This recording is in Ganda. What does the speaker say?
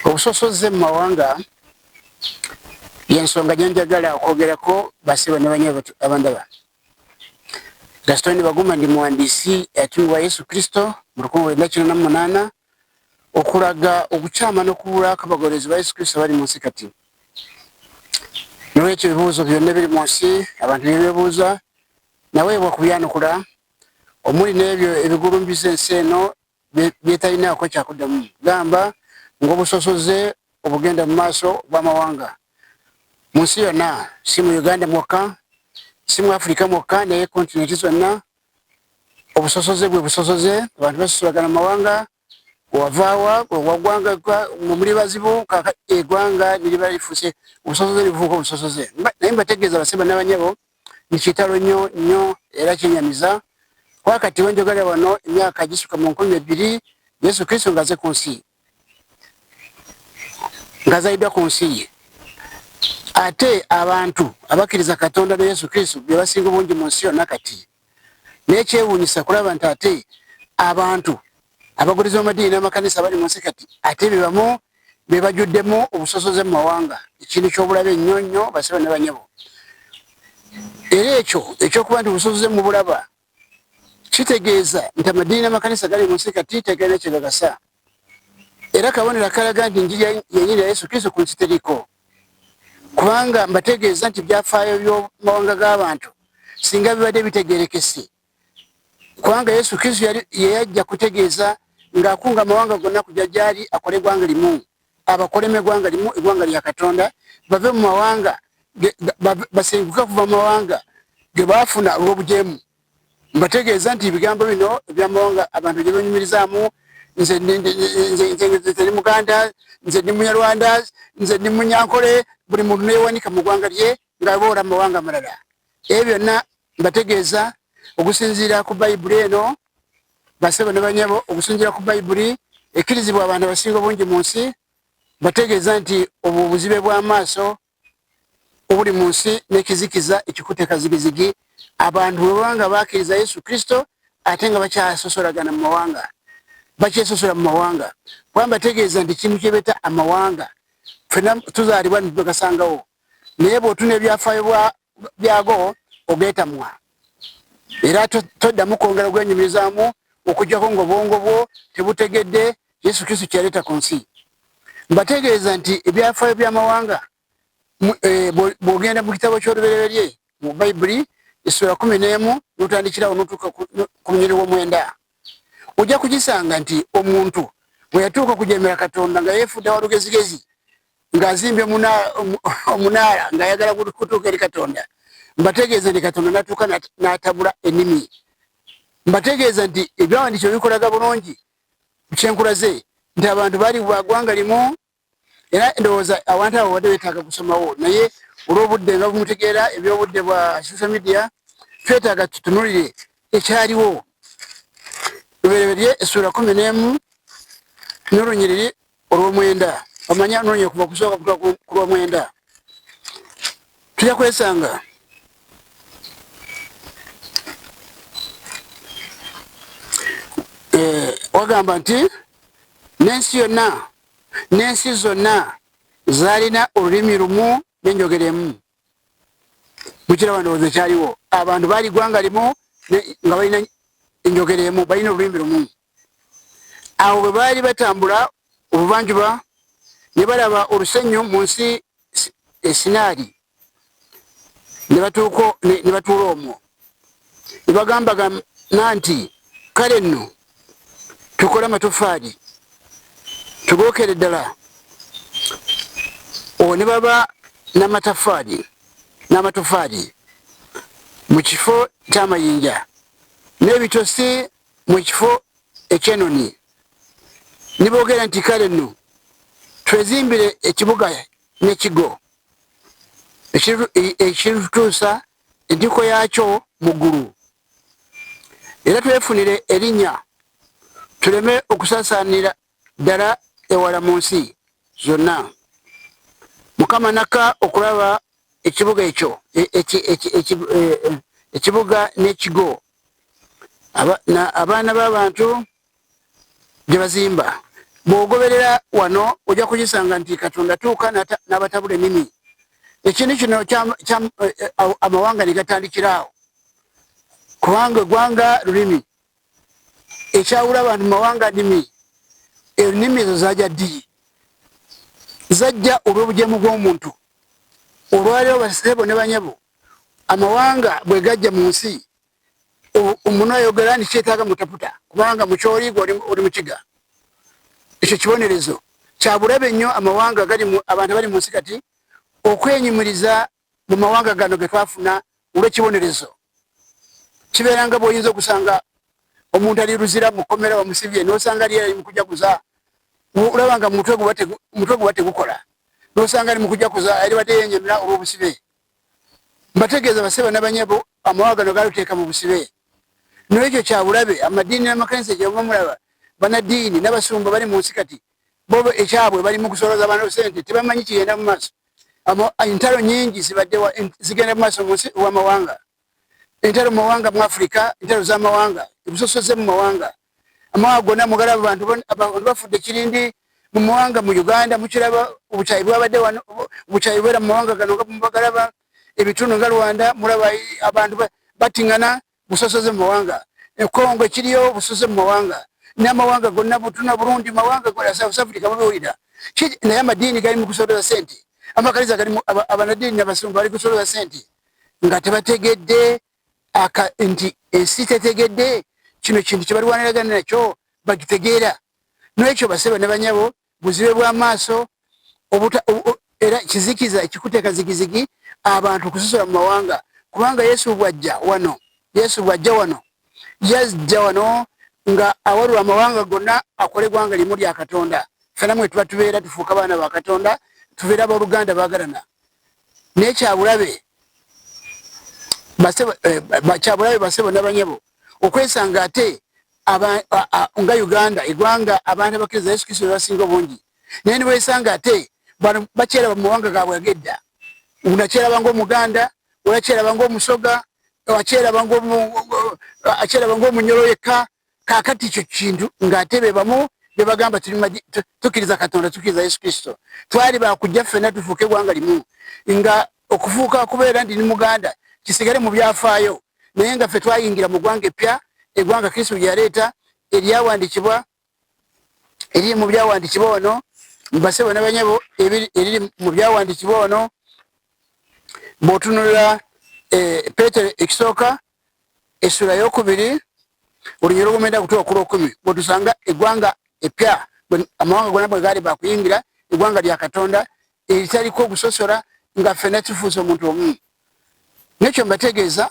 Obusosoze mu mawanga yensonga gyenjagala okwogerako basebo ne banyabo abandaba. Gaston Baguma ndi muwandiisi yatumibwa Yesu Kristo mu lukumi lwenda kina na munaana okulaga okukyama n'okubula kw'abagoberezi ba Yesu Kristo abali mu nsi kati. Nolwekyo ebibuuzo byonna ebiri mu nsi abantu byebebuuza naweebwa kubyanukula omuli n'ebyo ebigulumbiza ensi eno byetalinaako kyakuddamu gamba ng'obusosoze obugenda mu maaso bw'amawanga mu nsi yonna si mu uganda mwokka si mu afirika mwokka naye kontinenti zonna obusosoze bwe busosoze abantu basosolagana mu mawanga wavaawa wagwanga muli bazibu kaka egwanga niriba lifuse obusosoze libufuuka obusosoze naye mbategeeza baseba n'abanyabo Nikitalo nyo nyo era kyenyamiza kuba kati wenjogera wano emyaka gisuka mu nkumi ebbiri Yesu Kristo ngaze ku nsi ngazalidwa ku nsi ye ate abantu abakkiriza Katonda ne Yesu Kristo bebasinga obungi mu nsi yonna kati naye kyewunyisa kulaba nti ate abantu abagulizi bamadiini namakanisa bali munsi kati ate bebamu bebajuddemu obusosoze mu mawanga ekintu kyobulabe nnyo nnyo basiba ne banyabo era ekyo ekyokuba nti obusosoze mubulaba kitegeeza nti amadiini namakanisa gali munsi kati tegalina kyegagasa era kabonero akalaga nti njiri yenyini ya yesu kristo kunsitiriko kubanga mbategeeza nti byafaayo byomawanga g'abantu singa bibadde bitegerekese kubanga yesu kristo yeyajja kutegeeza ng'akunga amawanga gonna kujja gyali akole eggwanga limu abakolemu eggwanga limu eggwanga lya katonda bave mu mawanga basenguke okuva mu mawanga ge baafuna olw'obujeemu mbategeeza nti ebigambo bino ebyamawanga abantu gye banyumirizaamu nze ndi muganda nze ndi munyarwanda nze ndi munyankole buli muntu neyewanika mu ggwanga lye ngaaboora mu mawanga amalala ebyo byonna mbategeeza okusinziira ku bayibuli eno basebo ne banyabo okusinziira ku bayibuli ekkirizibwa abantu abasinga obungi mu nsi mbategeeza nti obwo obuzibe bw'amaaso obuli mu nsi n'ekizikiza ekikuteka zigizigi abantu bwe baba nga bakkiriza yesu kristo ate nga bakyasosolagana mu mawanga bakyesosola mu mawanga kuba mbategeeza nti kintu kyebeta amawanga fena tuzaalibwa nitubagasangawo naye bwotuna ebyafaayo byago ogetamwa era toddamu kwongera gwenyumirizaamu okujjako ngaobwongo bwo tebutegedde Yesu Kristo kyeyaleeta ku nsi. Mbategeeza nti ebyafaayo by'amawanga eh, bw'ogenda mu kitabo ky'olubereberye mu Bayibuli essula kumi n'emu n'otandikirawo n'otuuka ku munyiri w'omwenda ojja kugisanga nti omuntu bwe yatuuka okujeemera Katonda nga yeefudde wa lugezigezi ng'azimbye omunaala ng'ayagala kutuuka eri Katonda mbategeeza nti Katonda n'atuuka n'atabula ennimi mbategeeza nti ebyawandiikibwa bikolaga bulungi kyenkulaze nti abantu bali bwagwanga limu era ndowooza abantu abo badde betaaga kusomawo naye olwobudde nga bumutegeera ebyobudde bwa social media twetaaga tutunulire ekyaliwo lubereberye essuula kumi n'emu n'olunyiriri olwomwenda omanyi anoonya kuva kusooka kutuka ku lwomwenda tuja kwesanga eh, wagamba nti n'ensi yonna n'ensi zonna zalina olulimi lumu nenjogeremu mukiraba ndowooza ekyaliwo abantu baali gwanga limu nga balina enjogera emu balina olulimi lumu awo bwe baali batambula obuvanjuba ne balaba olusenyu mu nsi esinaali ne batuula omwo ne bagambagana nti kale nno tukole amatofaali tugookere ddala owo ne baba namatafaali n'amatofaali mu kifo ky'amayinja n'ebitosi mu kifo ekyenonye ne boogera nti kale nno twezimbire ekibuga n'ekigo ekiritutuusa entikko yaakyo mu ggulu era twefunire erinnya tuleme okusaasaanira ddala ewala mu nsi yonna mukama nakka okulaba ekibuga ekyo e, e, e, ekibuga n'ekigo abaana b'abantu gye bazimba bw'ogoberera wano ojja kukisanga nti katonda tuuka n'abatabula ennimi ekintu kino amawanga ne gatandikiraawo kubanga eggwanga lulimi ekyawula abantu mu mawanga nimi ennimi ezo zaja ddiyi zajja olw'obujemu bw'omuntu olwaliro basebo ne banyabo amawanga bwe gajja mu nsi omuntu ayogera nti kyetaaga mutaputa kubanga mukyoliiga oli mukiga ekyo kibonerezo kyabulabe nnyo amawanga abantu abali mu nsi kati okwenyumiriza mu mawanga gano ge twafuna olw'ekibonerezo kibeera nga bw'oyinza okusanga omuntu ali luzira mu kkomera bamusibye n'osanga ali ali mu kujaguza olaba nga mutwe guba tegukola n'osanga ali mu kujaguza ali badde yenyamira olw'obusibe mbategeeza baseba nabanyabo amawanga gano galuteeka mu busibe n'ekyo kyabulabe amadiini n'amakanisa gyebamamulaba banadiini n'abasumba bali mu nsi kati bo ekyabwe bali mu kusoloza bano sente tebamanyi kigenda mu maaso entalo nyingi zibadde zigenda mu maaso munsi wamawanga entalo mu mawanga mu afirika entalo z'amawanga ebusosoze mu mawanga amawanga gonna mugala abantu bafudde kirindi mu mawanga mu uganda mukiraba obukyayi bwabadde wano obukyayi bwera mu mawanga gano nga mubagalaba ebitundu nga rwanda mulaba abantu batingana ba busosoze mu mawanga ekongo ekiriyo busosoze mu mawanga n'amawanga gonna butuna burundi mawanga gola south africa mubiwulira naye amadiini gali mu kusoloza sente amakaliza galimu abanadiini nabasungu bali kusoloza sente nga tebategedde nti ensi tetegedde kino kintu kyebalwaniragana nakyo bagitegeera nwekyo baseba ne banyabo buzibe bwa maaso era kizikiza ekikuteeka zigizigi abantu okusosola mu mawanga kubanga yesu bwajja wano yesu bwajja wano yajja wano nga awalula amawanga gonna akole gwanga limu lya katonda fena mwe tuba tubeera tufuuka baana ba katonda tubeera aboluganda bagalana naye kyabulabe eh, kyabulabe basebo nabanyabo okwesanga ate nga uganda egwanga abantu abakiriza yesu kristo bebasinga obungi naye niwesanga ate bano bakyeraba mumawanga gabwe agedda unakyeraba nga omuganda olakyeraba nga omusoga akyeraba nga omunyolo yekka kakati ekyo kintu ngaate bebamu bebagamba tukiriza katonda tukiriza yesu kristo twali bakujja ffena tufuuka egwanga limu nga okufuuka kubeera ndi ni muganda kisigale mu byafaayo naye nga ffe twayingira mu ggwanga eppya eggwanga kristo gye yaleeta eryawandikibwa eriri mu byawandikibwa ono mbase bona banyabo eriri mu byawandikibwa ono bwotunulira eh, petero ekisooka esula yokubiri olunyira obumenda kutuwa okula okumi bwetusanga egwanga epya amawanga gona bwegali bakuyingira egwanga lya katonda eritaliko okusosora nga fena kifuusa omuntu omu nekyo mbategeeza